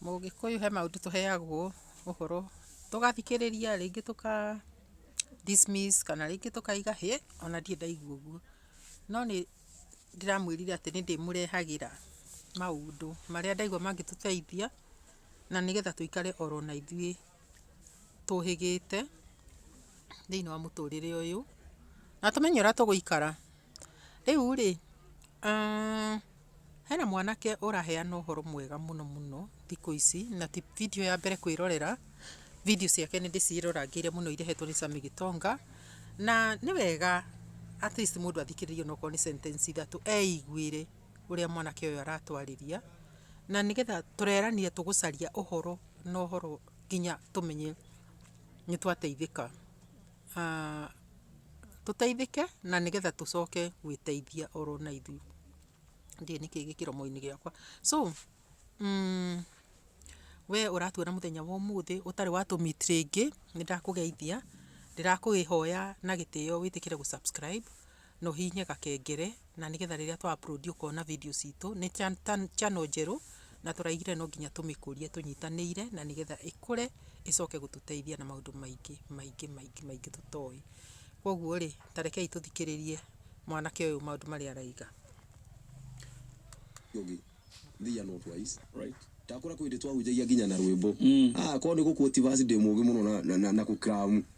Mũgĩkũyũ he maũndũ tũheagwo ũhoro, tũgathikĩrĩria rĩngĩ tũka dismiss kana rĩngĩ tũkauga hĩ ona ndirĩ ndaigua ũguo. No nĩ ndĩramwĩrire atĩ nĩ ndĩmũrehagĩra maũndũ marĩa ndaigua mangĩtũteithia na nĩgetha tũikare oro na ithuĩ tũhĩgĩte thĩiniĩ wa mũtũrĩre ũyũ na tũmenye ũrĩa tũgũikara. Rĩu-rĩ, hena mwanake ũraheana ũhoro mwega mũno mũno thikũ ici, na ti video ya mbere kwĩrorera, video ciake nĩ ndĩciĩrorangĩire mũno irehetwo nĩ Sammy Gitonga, na nĩ wega at least mũndũ athikĩrĩrie onokorwo nĩ sentence ithatũ eiguĩre ũrĩa mwanake ũyũ aratwarĩria, na nĩgetha tũrerania tũgũcaria ũhoro na ũhoro nginya tũmenye nĩ twateithĩka. tũteithĩke na nĩgetha tũcoke gwĩteithia oro na ithuĩ. Ndiũĩ nĩkĩĩ gĩ kĩromo-inĩ gĩakwa. So, we ũratuona mũthenya wa ũmũthĩ ũtarĩ wa tũ meet rĩngĩ, nĩ ndakũgeithia. Ndĩrakũĩhoya na gĩtĩo wĩtĩkĩre gũ subscribe na ũhihinye gakengere. na nĩgetha rĩrĩa twa upload ũkona video citũ nĩ channel njerũ na tũraigire no nginya tũmĩkũrie tũnyitanĩire na nĩgetha ĩkũre ĩcoke gũtũteithia na maũndũ maingĩ maingĩ maingĩ maingĩ tũtoĩ. Kwoguo rĩ, ta rekei tũthikĩrĩrie mwanake ũyũ maũndũ marĩa araiga. ũngĩ thia no twice right ndakora kwä ndä twahunjagia nginya na rwä mbo korwo nä gå kuoti basi ndä må gä må no na- na- na- na kå kramu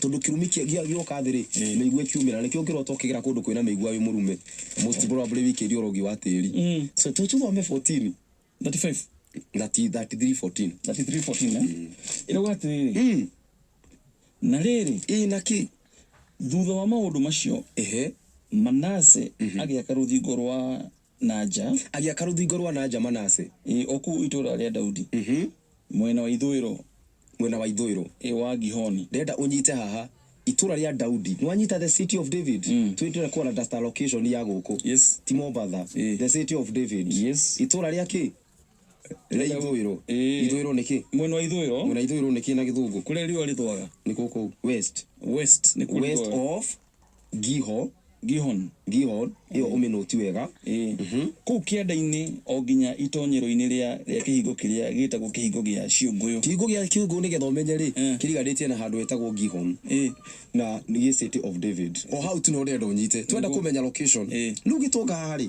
Tondũ kĩrumi kĩ, gĩa, gĩoka thĩ-rĩ, mĩigua ĩkiumĩra, na nĩkĩo ũngĩrota ũkĩgera kũndũ kwĩna mĩigua wĩ mũrume, most probably wĩkĩire ũrogi wa tĩri. So to tũthome 14. 35. Thati, 33 14. 33 14, eh? Ĩrauga atĩrĩrĩ, Na rĩrĩ, Ĩ na kĩ? thutha wa maũndũ macio Ehe. Manase agĩaka rũthingo rwa na nja. Agĩaka rũthingo rwa na nja Manase. Ĩ Oku itũũra rĩa Daudi. Mwena wa ithũĩro. Mwena wa ithũĩro. Ĩ wa Gihoni. Ndĩrenda ũnyite haha. Itũũra rĩa Daudi. Nĩwanyita the city of David? Twĩtĩre kũona dust allocation ya gũkũ. Yes. Ti Mombatha. Ĩ. The city of David. Yes. Itũũra rĩa kĩ? Ithũĩro. Ĩĩ. Ithũĩro nĩ kĩ? mwena wa ithũĩro Mwena ithũĩro nĩ kĩ na gĩthũngũ? kũrĩa riũa rĩthũaga Nĩ kũkũ west. west nĩ kũrĩa West rĩthũaga. of Giho. Gihon Giho ĩyo ũmĩnũti wega. Ĩĩ. kũu kĩanda-inĩ o nginya itonyero-inĩ rĩa rĩa kĩhingo kĩrĩa gĩtagwo kĩhingo gĩa ciũngũyũ Kĩhingo gĩa kĩũngũ nĩgetha ũmenye rĩ, Eh. kĩriganĩtie na handũ hetagwo Gihon Ĩĩ. na nĩ gĩ City of David. O hau tu no ndĩrenda ũnyite. Twenda Nĩguo. kũmenya location. Ĩĩ. Rĩu gĩtonga haha rĩ,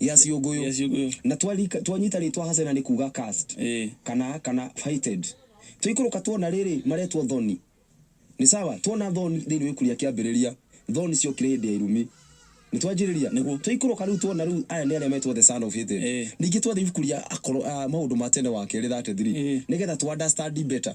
ya ciũngũyũ ya ciũngũyũ na twarika twanyita rĩtwa hasena nĩ kuga cast eh kana kana fighted tũikũrũka tuona rĩrĩ maretwo thoni nĩ sawa tuona thoni thĩinĩ wa ikuria kĩambĩrĩria thoni ciokire hĩndĩ ya irumi nĩ twanjĩrĩria Nĩguo. tũikũrũka rĩu tuona rĩu aya nĩ arĩa metwo the son of hated Eh. ningĩ twathiĩ ibuku rĩa akoro- ah, maũndũ ma tene wa kerĩ 33 Eh. nĩgetha tũ understand better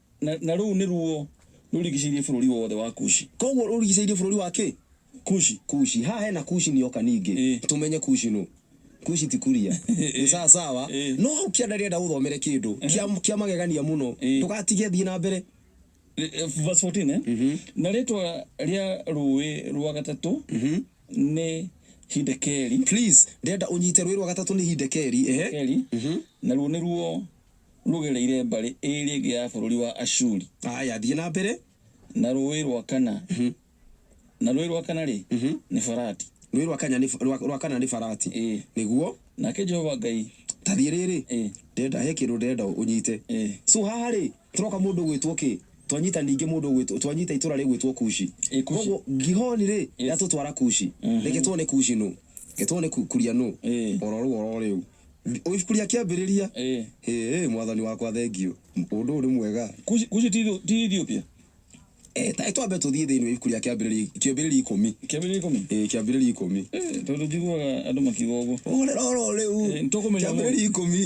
Na, na rũu nĩruo rũrigicĩirie bũrũri wothe wa Kushi. Kwoguo rũrigicĩirie bũrũri wa kĩ? Kushi. Kushi. Haha hena Kushi nĩoka ningĩ. Ĩĩ. Tũmenye Kushi nũ. Kushi ti Kuria. Ĩĩ. Nĩ sawa sawa. Ĩĩ. No hau kĩanda ndĩrenda ũthomere kĩndũ Ehe. kĩa, kĩa magegania mũno. Ĩĩ. Ndũgatige thiĩ na mbere. Rĩ, verse fourteen, eh? Mhm. Na rĩĩtwa rĩa rũũĩ rwa gatatũ Mhm. nĩ Hidekeli. Please, ndĩrenda ũnyite rũũĩ rwa gatatũ nĩ Hidekeli. Ehe. Hidekeli, Mhm. naruo nĩruo rũgereire mbarĩ ĩĩrĩ ĩngĩ ya bũrũri wa Ashuri. Haya, thiĩ na mbere. Na rũũĩ rwa kana, na rũũĩ rwa kana-rĩ, nĩ Farati. Rũũĩ rwa Kanya nĩ, rwa, rwa kana nĩ Farati. Ĩ! Nĩguo. Nake Jehova Ngai. Ta thiĩ rĩrĩ. Ĩ! Ndĩrenda, he kĩndũ ndĩrenda ũnyite. Ĩ! So haha-rĩ, tũroka mũndũ ũgwĩtwo kĩ? Twanyita ningĩ mũndũ ũgwĩtwo, twanyita itũũra rĩgwĩtwo Kushi. Ĩ! Kushi. Kwoguo Gihoni-rĩ, Yes. rĩatũtwara Kushi. Reke tuone Kushi nũ? Reke tuone Ku, Kuria nũ? Ĩ! O ro rũu, o ro rĩu. Ũibukuria kĩambĩrĩria. Ĩĩ. Hĩĩ, Mwathani wakwa, thengiũ. Ũndũ ũyũ nĩ mwega. Kushi, Kushi ti, ti Ethiopia? Ĩĩ, ta twambe tũthiĩ thĩinĩ wa ibuku rĩa kĩambĩrĩria, kĩambĩrĩria ikũmi. Kĩambĩrĩria ikũmi? Ĩĩ, kĩambĩrĩria ikũmi. Ĩĩ, tondũ njiguaga andũ makiuga ũguo. Ũhorera oro rĩu. Ĩĩ, nĩtũkũmenya ũmũthĩ. Kĩambĩrĩria ikũmi,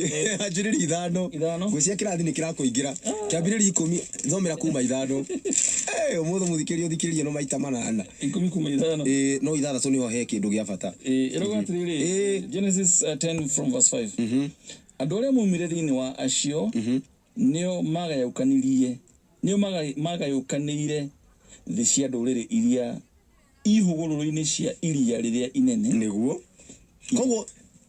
anjĩrĩria ithano. Ithano? Nguo cia kĩrathi nĩkĩrakũingĩra. Kĩambĩrĩria ikũmi, thomera kuma ithano. Hĩĩ, ũmũthĩ mũthikĩrĩria ũthikĩrĩrie no maita manana. Ikũmi kuuma ithano. Ĩĩ, no ithathatũ nĩho he kĩndũ gĩa bata. Ĩĩ, ĩroiga atĩrĩrĩ, Genesis ten from verse five, Andũ arĩa moimire thĩinĩ wa acio nĩo maagayũkanirie, nĩo maagayũkanĩire thĩ cia ndũrĩrĩ iria i hũgũrũrũ-inĩ cia iria rĩrĩa inene. Nĩguo. Kwoguo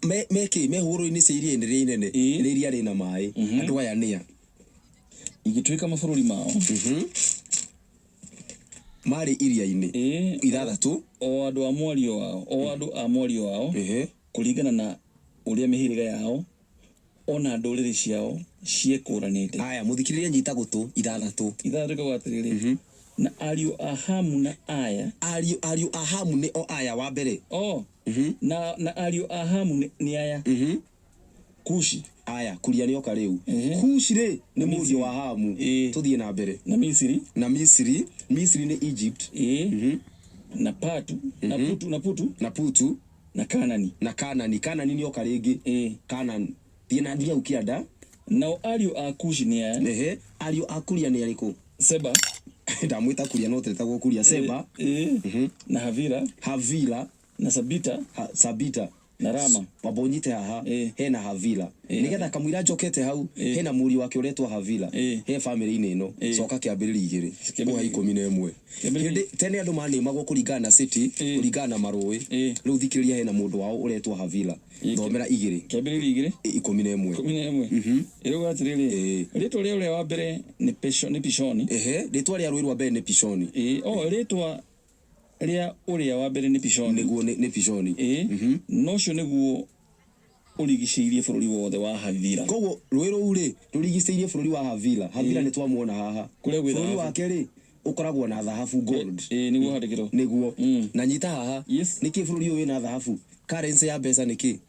me, me kĩ? Me hũgũrũrũ-inĩ cia iria-inĩ rĩrĩa inene, Ĩĩ. rĩrĩa rĩ na maĩ. Andũ aya nĩ a? Igĩtuĩka mabũrũri mao. Maarĩ iria-inĩ Ĩĩ, o- ithathatũ. O andũ a mwario wao, o andũ a mwario wao, Ehe. kũringana na ũrĩa mĩhĩrĩga yao, o na ndũrĩrĩ ciao ciekũũranĩte. Aya, mũthikĩrĩrie nyita gũtũ ithathatũ. Ithathatũ rĩkauga atĩrĩrĩ, na ariũ a Hamu na aya, Ariũ ariũ a Hamu nĩ o aya wa mbere. o, na, na ariũ a Hamu nĩ, nĩ aya, Kushi, Aya, Kuria nĩoka rĩu. Kushi rĩ, nĩ mũriũ Misiri. wa Hamu. Ĩĩ. Tũthiĩ na mbere. na Misiri, Na Misiri, Misiri nĩ Egypt, ĩĩ, na Patu, na Putu, na Putu, na Putu, na Kanani. na Kanani. Kanani nĩoka rĩngĩ. Ĩĩ. Kanani. Thiĩ na thiĩ hau kĩanda. Nao ariũ a Kushi nĩ aya, Ehe, ariũ a Kuria nĩ arĩkũ? Seba, Ndamwĩta Kuria no tetagwo Kuria. Seba, ĩĩ, na Havila, Havila, na Sabita, ha, Sabita. Na Rama. Mambũnyite haha, Ĩĩ. hena Havila. Ĩĩ. Nĩgetha kamũira njokete hau, Ĩĩ. hena mũriũ wake ũretwo Havila, Ĩĩ. he bamĩrĩ-inĩ ĩno. Ĩĩ. Coka Kĩambĩrĩria igĩrĩ, Kĩambĩrĩria ngũha igĩrĩ. ikũmi na ĩmwe. Kĩambĩrĩria- Hĩndĩ tene andũ manĩmagwo kũringana na cĩtĩ, Ĩĩ. kũringana na marũĩ. Ĩĩ. Rĩu thikĩrĩria hena mũndũ wao ũretwo Havila. Ĩĩ. Thomera igĩrĩ, Kĩambĩrĩria igĩrĩ, ĩ- ikũmi na ĩmwe. ikũmi na ĩmwe. Ĩrauga atĩrĩrĩ, Ĩĩ. rĩĩtwa rĩa ũrĩa wa mbere nĩ Pisho- nĩ Pishoni. Ehe, rĩtwa rĩa rũĩ rwa mbere nĩ Pishoni. Ĩĩ, o rĩĩtwa Rĩa ũrĩa wa mbere nĩ Pishoni. Nĩguo nĩ Pishoni. Ĩĩ, na ũcio nĩguo ũrigicĩirie bũrũri wothe wa Havila. Kwoguo rũĩ rũu-rĩ, rũrigicĩirie bũrũri wa Havila. Havila nĩ twamuona haha. Kũrĩa gwĩ thahabu. Bũrũri wake-rĩ, ũkoragwo na thahabu, gold. Ĩĩ, nĩguo ũhandĩkĩrwo. Nĩguo. Na nyita haha. Yes. Nĩkĩĩ bũrũri ũyũ wĩna thahabu? Currency ya mbeca nĩ kĩĩ?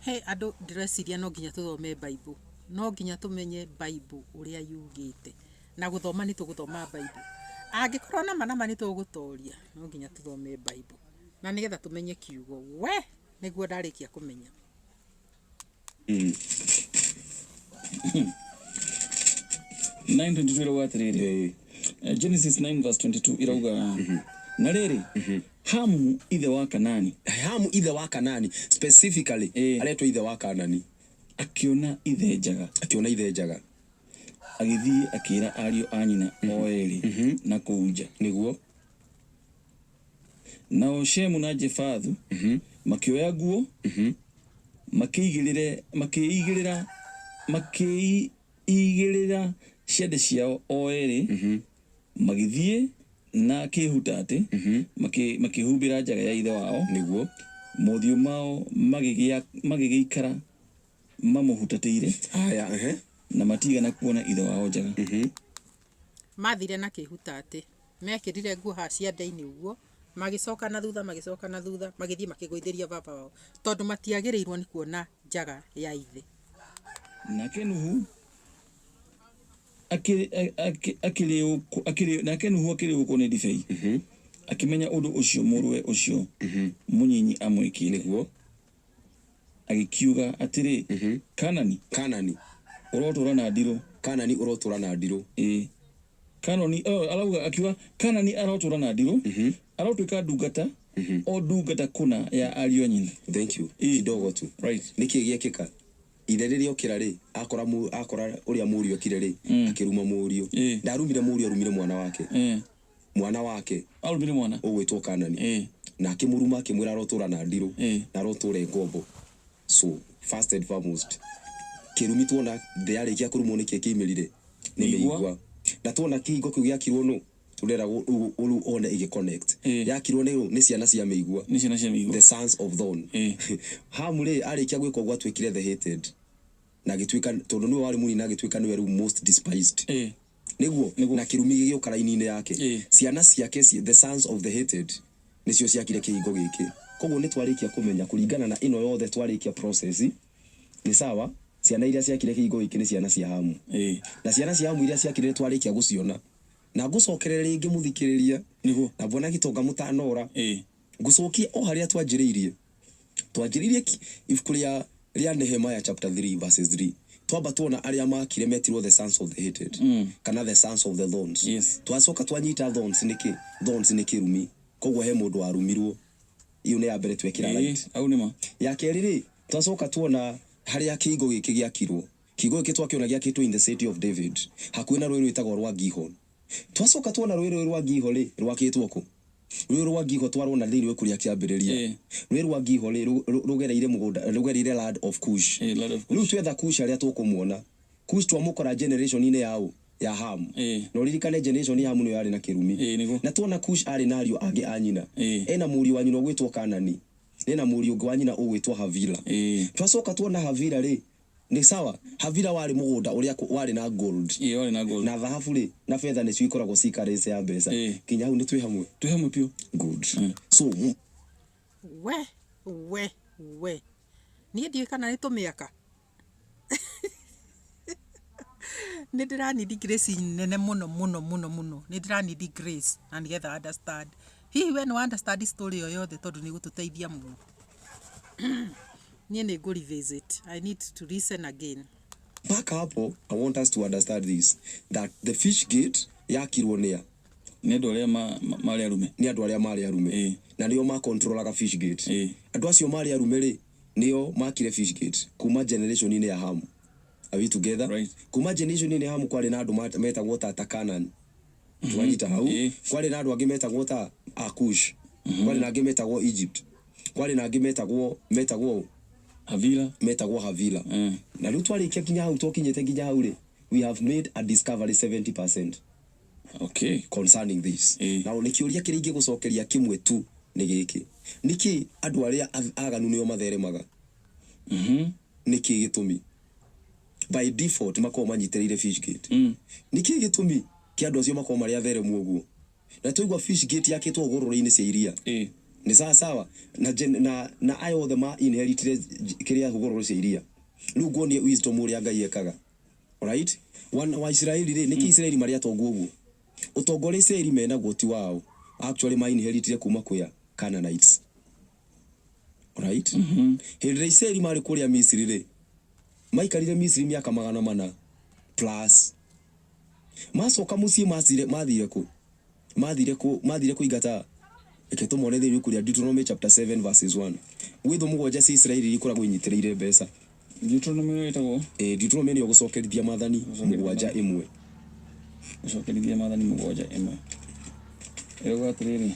He andũ ndĩreciria no nginya tũthome Bible. No nginya tũmenye Bible ũrĩa yugĩte. Na gũthoma nĩ tũgũthoma Bible. Angĩkorwo nama nama nĩ tũgũtoria, no nginya tũthome Bible. Na nĩgetha tũmenye kiugo. We! Nĩguo ndarĩkia kũmenya. Mm. Nine twenty two irauga atĩrĩrĩ Genesis 9 verse 22 irauga na rĩrĩ Hamu ithe wa Kanaani. Hamu ithe wa Kanaani, specifically Ĩĩ. aretwo ithe wa Kaanani. Akĩona ithe njaga. Akĩona ithe njaga. Agĩthiĩ akĩĩra ariũ a nyina o eerĩ na kũu nja. Nĩguo. Nao Shemu na Jefathu makĩoya nguo, makĩigĩrĩre, makĩĩigĩrĩra, makĩĩi, Igĩrĩra ciande ciao o eerĩ, magĩthiĩ na kĩĩhutaatĩ, makĩĩhumbĩra njaga ya ithe wao, nĩguo mothiũ mao magĩgĩikara mamũhutatĩire, na matiigana kuona ithe wao njaga. Mathire na kĩhuta atĩ. Mekĩrire nguo haha cia ndainĩ ũguo, magĩcoka na thutha, magĩcoka na thutha, magĩthiĩ makĩgũithĩria baba wao, tondũ matiagĩrĩirwo nĩ kuona njaga ya ithe. Nake Nuhu akĩrĩĩũkwo nĩ ndibei, akĩmenya ũndũ ũcio mũrũwe ũcio mũnyinyi amwĩkĩte. Agĩkiuga atĩrĩ, Kaanani. Kaanani. Ũrotũũra na ndirũ. Kaanani ũrotũũra na ndirũ. Ĩĩ. Kaanoni, arauga, akiuga, Kaanani arotũũra na ndirũ, arotuĩka ndungata, o ndungata kũna ya ariũ a nyina. Thank you. Kidogo tu. Right. Nĩ kĩĩ gĩekĩka? Ithe rĩrĩa okĩra-rĩ, akora mũ, akora ũrĩa mũriũ ekire-rĩ, akĩruma mũriũ. Ndarumire mũriũ, arumire mwana wake. mwana wake Aarutire mwana. ũgwĩtwo Kanani, Ĩĩ. na akĩmũruma, akĩmwĩra arotũũra na ndirũ, Ĩĩ. na arotũũre ngombo. So, first and foremost, kĩrumi tuona thĩ yarĩkia kũrumwo nĩkĩ kĩaimĩrire? Nĩ Mĩigua. mĩigua. Na tuona kĩhingo kĩu gĩakirwo nũ? Ndĩrenda gũ- rĩu rĩu one ĩgĩ-connect. Ĩĩ. Yakirwo nĩ nũ? Nĩ ciana cia mĩigua. Nĩ ciana cia mĩigua. The sons of Thorn. Ĩĩ. Hamu rĩ, arĩkia gwĩka ũguo atuĩkire the hated. Na agĩtuĩka, tondũ nĩwe warĩ mũnini agĩtuĩka nĩwe rĩu most despised. Ĩĩ. Nĩguo, na kĩrumi gĩgĩũka raini-inĩ yake. Ciana ciake, the sons of the hated, nĩcio ciakire kĩhingo gĩkĩ. Kwoguo nĩ twarĩkia kũmenya, kũringana na ĩno yothe twarĩkia process, nĩ sawa, ciana iria ciakire kĩhingo gĩkĩ nĩ ciana cia Hamu. Na ciana cia Hamu iria ciakire nĩ twarĩkia gũciona. Na ngũcokerere rĩngĩ mũthikĩrĩria, na Bwana Gitonga mũtanora, Ngũcokia o harĩa twanjĩrĩirie. Twanjĩrĩirie ki, ibuku rĩa, rĩa Nehemiah chapter three verses three. Twamba tuona arĩa maakire metirwo the sons of the hated, kana the sons of the thorns. Yes. Twacoka twanyita thorns nĩ kĩ? Thorns nĩ kĩrumi. Kwoguo he mũndũ warumirwo. Ĩyo nĩ ya mbere twekĩra Ĩĩ, right. hau nĩ ma. Ya kerĩ-rĩ, twacoka tuona harĩa kĩhingo gĩkĩ gĩakirwo. Kihingo gĩkĩ twakĩona gĩakĩtwo in the city of David, hakuhĩ na rũĩ rwĩtagwo rwa Gihon. Twacoka tuona rũĩ rũĩ rwa Ngiho rĩ, rwakĩtwo kũ? Rũĩ rwa Ngiho twarwona thĩinĩ wa ibuku rĩa Kĩambĩrĩria. Ĩĩ. Rũĩ rwa Ngiho rĩ, rũ, rũgereire mũgũnda, rũgereire land of Kush. Ĩĩ, land of Kush. Rĩu twetha Kush harĩa tũkũmuona. Kush twamũkora generation-inĩ ya ũ? Ya Hamu. Ĩĩ. Na ũririkane generation ya Hamu nĩyo yarĩ na kĩrumi. Ĩĩ, nĩguo. Na tuona Kush arĩ na ariũ angĩ a nyina. Ĩĩ. Ena mũriũ wa nyina ũgwĩtwo Kanani, na ena mũriũ ũngĩ wa nyina ũgwĩtwo Havila. Ĩĩ. Twacoka tuona Havila rĩ, Nĩ sawa. Havila warĩ mũgũnda ũrĩa warĩ na gold. Ĩĩ warĩ na gold. Na thahabu rĩ, na fetha nĩcio ikoragwo ci currency ya mbeca. Ĩĩ. Nginya hau nĩ twĩ hamwe? Twĩ hamwe biũ. Good. So, mũ. We, we, we. Niĩ ndiũĩ kana nĩ tũmĩaka. Nĩ ndĩra need grace nene mũno mũno mũno mũno. Nĩ ndĩra need grace na nĩgetha understand. Hihi we nĩ wa understand story ĩyo yothe tondũ nĩ ĩgũtũteithia mũno. Niĩ nĩ ngũ revisit. I need to listen again. Mpaka hapo I want us to understand this that the fish gate yakirwo nĩ a? Nĩ andũ arĩa ma, ma, marĩ arume. Nĩ andũ arĩa marĩ arume. Ĩĩ. Na nĩo ma controlaga fish gate. Ĩĩ. Andũ acio marĩ arume rĩ, nĩo makire fish gate kuma generation inĩ ya Hamu. Are we together? Right. Kuma generation inĩ ya Hamu kwarĩ na andũ ma, metagwo ta ta Canaan. Twanyita hau. Ĩĩ. Kwarĩ na andũ angĩ metagwo ta Akush. Kwarĩ na angĩ metagwo Egypt. Kwarĩ na angĩ metagwo, metagwo ũũ? Havila. Metagwo Havila. Eh. Na rĩu twarĩkia nginya hau, twakinyĩte nginya hau-rĩ, we have made a discovery 70% Okay. concerning this. Eh. Na nĩ kĩũria kĩrĩa ingĩgũcokeria kĩmwe tu nĩ gĩkĩ. Nĩkĩ andũ arĩa ath- aganu nĩo matheremaga? Nĩkĩ gĩtũmi? By default makoragwo manyitĩrĩire Fishgate. Nĩkĩ gĩtũmi kĩa andũ acio makorwo marĩ atheremu ũguo? na twaigua fish gate yakĩtwo hũgũrũrũ-inĩ cia iria Ĩĩ. nĩ sawa sawa na, gen- na, na aya othe ma inheritire j- kĩrĩa hũgũrũrũ cia iria rĩu nguonie wisdom ũrĩa ngai ekaga right wana wa isiraeli rĩ nĩkĩ isiraeli marĩ atongu ũguo ũtonga ũrĩa isiraeli menaguo ti wao actually ma inheritire kuma kwĩ a Canaanites Right? Hĩndĩ ĩrĩa Isiraeli marĩ kũrĩa Misiri rĩ, maikarire Misiri mĩaka magana mana plus. Macoka mũciĩ macire mathire kũ? Mathire kũ? Mathire kũingata reke tũmone thĩinĩ kũrĩa Deuteronomy chapter 7 verses 1. Gwĩthũ mũgwanja cia Isiraeli iria ikoragwo inyitĩrĩire mbeca. Deuteronomy ĩyo ĩtagwo Ĩĩ, Deuteronomy nĩyo gũcokerithia maathani mũgwanja ĩmwe. gũcokerithia maathani mũgwanja ĩmwe ĩrauga atĩrĩrĩ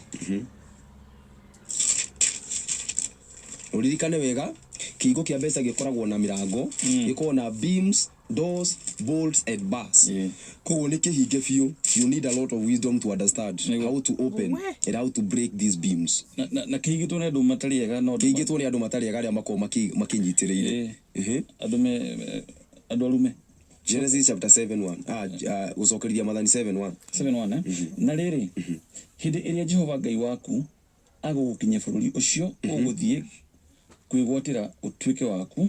Ũririkane wega, kĩhingo kĩa mbeca gĩkoragwo na mĩrango, gĩkoragwo na beams, doors, bolts and bars. Yeah. Koguo nĩ kĩhinge biũ. You need a lot of wisdom to understand Nĩguo. how to open We. and how to break these beams. Na- na- na kĩhingĩtwo nĩ andũ matarĩ ega no Kĩingĩtwo nĩ andũ matarĩ ega arĩa makoragwo makĩ- makĩnyitĩrĩire. Ĩĩ. Ĩhĩ. andũ me eh, andũ arume Genesis chapter 7 1. Ah, ah, gũcokerithia mathani 7 1. 7:1, eh? na rĩrĩ hĩndĩ ĩrĩa jehova ngai waku agũgũkinyia bũrũri ũcio ũgũthiĩ kwĩgwatĩra ũtuĩke waku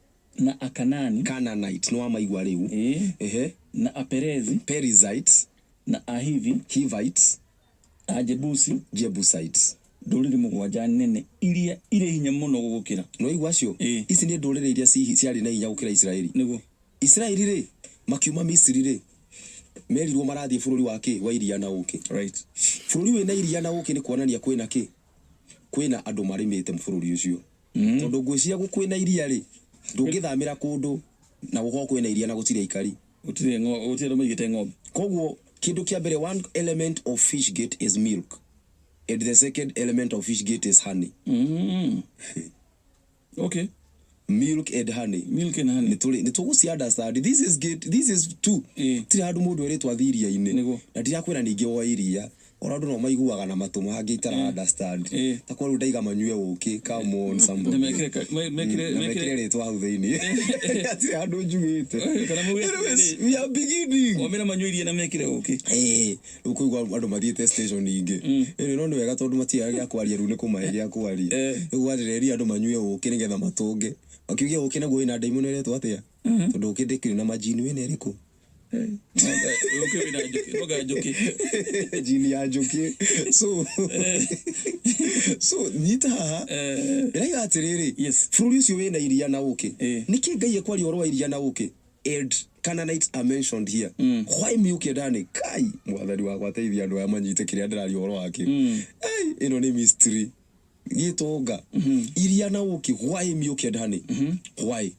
Na Akanaani. Canaanite, nĩwamaigua rĩu. Ĩĩ. Ehe. Na Aperezi. Perizzites. Na Ahivi. Hivites. Ajebusi. Jebusites. Ndũrĩrĩ mũgwanja nene iria irĩ hinya mũno gũgũkĩra. Nĩwaigua acio? Ĩĩ. Ici nĩ ndũrĩrĩ iria ci, ciarĩ na hinya gũkĩra Isiraeli. Nĩguo. Isiraeli-rĩ, makiuma Misiri-rĩ, merirwo marathiĩ bũrũri wa kĩ? Wa iria na ũũkĩ. Right. Bũrũri wĩna iria na ũũkĩ nĩ kuonania kwĩna kĩ? Kwĩna andũ marĩmĩte bũrũri ũcio. Tondũ ngwĩciria gũkũ kwĩna iria-rĩ, ndũngĩthamĩra kũndũ na gũkorwo kwĩna iria na gũtirĩ aikari. Gũtirĩ ng'ombe, gũtirĩ andũ maigĩte ng'ombe. Koguo kĩndũ kĩa mbere, one element of fish gate is milk and the second element of fish gate is honey. Mm. Okay. Milk and honey. Milk and honey. Nĩtũrĩ, nĩtũgũci understand. This is gate, this is two. Ĩĩ. Gũtirĩ handũ mũndũ erĩtwo athiĩ iria-inĩ. Nĩguo. Na ndirakwĩra ningĩ woe iria. Ona andũ nao maiguaga na matũ mangĩ itara Eh. understand. Eh. Ta kwa rĩu ndaiga manyue ũkĩ, come on somebody. Na mekĩre ka- me- Mm, mekĩre- na mekĩre- mekĩre rĩtwa hau thĩinĩ. Ati handũ njugĩte. Eh, kana mauge Anyways, atĩrĩ. we are beginning. Wamera manyue iria na mekire ũkĩ Eh, rĩu kũigua andũ mathiĩte station ingĩ ĩrĩ no nĩ wega tondũ matiaga gĩa kwaria rĩu nĩ kũmahe gĩa kwaria Eh. rĩu gwathĩrĩria andũ manyue ũkĩ nĩgetha matũnge makiugia ũkĩ naguo wĩna ndaimu nĩ ũretwo atĩa tondũ ũkĩ ndĩkĩrĩ na majini wĩna ĩrĩkũ jini ya joke so so nyita haha irayo atiriri Yes. bũrũri ũcio wĩna iria na ũkĩ Eh. nĩkĩ ngai ekwaria ũhoro wa iria na ũkĩ and Canaanites are mentioned here why me ũkĩendane kai mwathani wakwa teithia andũ aya manyite kĩrĩa ndĩraria ũhoro wakĩ Ai, ĩno nĩ mystery gĩtonga iria na ũkĩ why me ũkĩendane why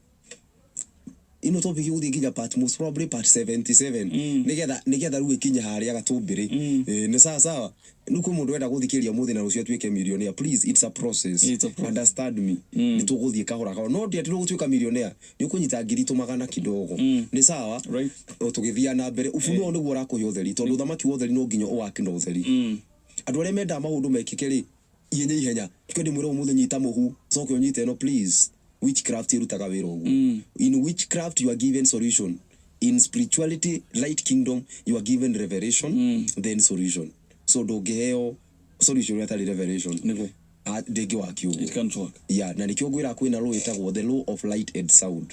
ino topic guthii nginya part most probably part 77 nigetha nigetha riu ikinye haria gatumbiri Eh, ni sawa sawa riu kwi mundu wenda guthikiria muthi na rucio atuike millionaire please it's a process It's a process. understand me ni tuguthii kahora kahora no ndi ati no gutuika millionaire ni ukunyita ngiri tu magana kidogo ni sawa Right. o tugithia na mbere ufunuo niguo urakuhe utheri tondu uthamaki wa utheri no nginya uwaki na utheri andu aria mendaga maundu mekike ri Ihenya ihenya. Reke ndĩmwĩre ũmũthĩ nyita mũhu. Coke ũnyite ĩno please. Witchcraft ĩrutaga wĩra ũguo. In witchcraft you are given solution. In spirituality, light kingdom, you are given revelation then solution. So ndũngĩheo solution hatarĩ revelation. Nĩguo. Ah, Ndĩngĩ work It ũguo. can't work. Yeah, na nĩkĩo ngwĩraga kwĩna law ĩtagwo the law of light and sound.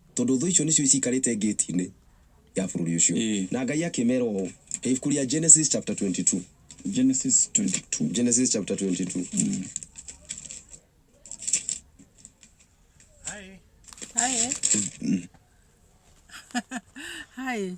Tondũ thũ icio nĩcio ciikarĩte ngĩti-inĩ ya bũrũri ũcio. Ĩĩ. Na Ngai akĩmeera ũũ, He ibuku rĩa Genesis chapter 22. Genesis 22. Genesis chapter 22. Hi. Hi. Hi.